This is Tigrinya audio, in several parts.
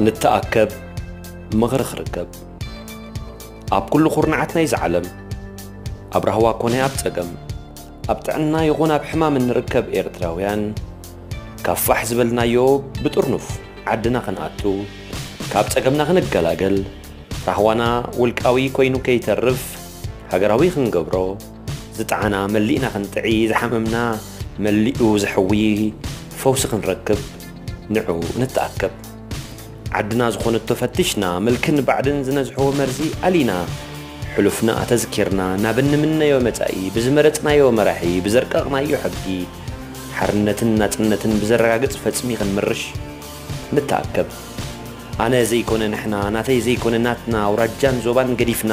ንተኣከብ ምኽሪ ክርከብ ኣብ ኩሉ ኩርናዓት ናይዚ ዓለም ኣብ ራህዋ ኮነ ኣብ ጸገም ኣብ ጥዕና ይኹን ኣብ ሕማም እንርከብ ኤርትራውያን ካብ ፋሕ ዝበልናዮ ብጥርኑፍ ዓድና ክንኣቱ ካብ ጸገምና ክንገላገል ራህዋና ውልቃዊ ኮይኑ ከይተርፍ ሃገራዊ ክንገብሮ ዝጠዓና መሊእና ክንጥዒ ዝሓመምና መሊኡ ዘሕዊ ፈውሲ ክንረክብ ንዑ ንተኣከብ ዓድና ዝኾነቶ ፈቲሽና ምልክን ባዕድን ዝነዝሕዎ መርዚ ኣሊና ሕሉፍና ኣተዝኪርና ናብ እንምነዮ መጻኢ ብዝመረጽናዮ መራሒ ብዘርቀቕናዮ ሕጊ ሓርነትን ናጽነትን ብዘረጋግጽ ፈጽሚ ክንምርሽ ንተኣከብ ኣነ ዘይኮነ ንሕና ናተይ ዘይኮነ ናትና ኣውራጃን ዞባን ገዲፍና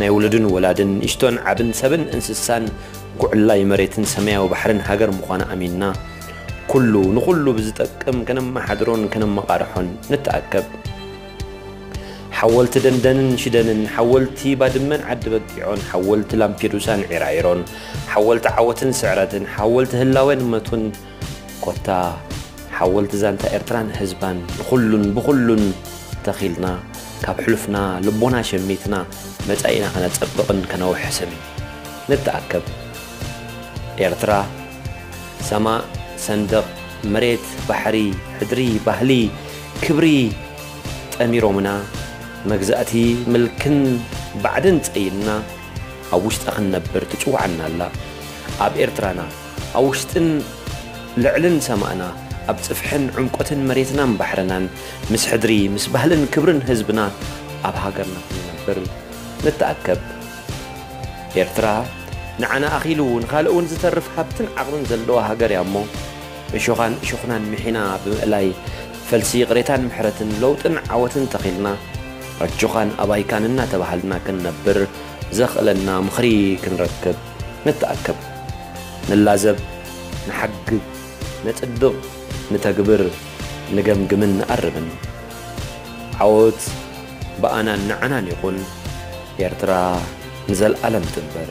ናይ ውሉድን ወላድን፣ ንእሽቶን ዓብን፣ ሰብን እንስሳን፣ ጉዕላይ መሬትን ሰማያዊ ባሕርን ሃገር ምዃና ኣሚንና፣ ኩሉ ንኹሉ ብዝጠቅም ከነመሓድሮን ከነመቓርሖን ንተኣከብ። ሓወልቲ ደንደንን ሽደንን፣ ሓወልቲ ባድመን ዓዲበጊዖን፣ ሓወልቲ ላምፔዱሳን ዒራዒሮን፣ ሓወልቲ ዓወትን ስዕረትን፣ ሓወልቲ ህላዌን መቱን፣ ኮታ ሓወልቲ ዛንታ ኤርትራን ህዝባን ንኹሉን ብኹሉን ተኺልና ካብ ሕሉፍና ልቦና ሸሚትና መጻኢና ከነጸብቕን ከነውሕስን ንተኣከብ። ኤርትራ ሰማእ፣ ሰንደቕ፣ መሬት፣ ባሕሪ፣ ሕድሪ፣ ባህሊ፣ ክብሪ ጠሚሮምና መግዛእቲ ምልክን ባዕድን ጸይንና ኣብ ውሽጣ ክንነብር ትጽውዓና ኣላ። ኣብ ኤርትራና ኣብ ውሽጥን ልዕልን ሰማእና፣ ኣብ ጽፍሕን ዑምቆትን መሬትናን ባሕርናን፣ ምስ ሕድሪ፣ ምስ ባህልን ክብርን ህዝብና ኣብ ሃገርና ክንነብር ንተኣከብ። ኤርትራ ንዓና ኣኺሉ ንኻልእውን ዝተርፍ ሃብትን ዓቕምን ዘለዋ ሃገር እያ እሞ፣ እሾኻን እሾኽናን ምሒና ብምእላይ፣ ፈልሲ ይቕሬታን ምሕረትን፣ ለውጥን ዓወትን ተኺልና፣ ኣጆኻን ኣባይካን እናተባሃልና ክንነብር ዘኽእለና ምኽሪ ክንረክብ። ንተኣከብ፣ ንላዘብ፣ ንሓግብ፣ ነጽድቕ፣ ንተግብር፣ ንገምግምን ንኣርምን። ዓወት ብኣናን ንዓናን ይኹን፣ ኤርትራ ንዘልኣለም ትንበር!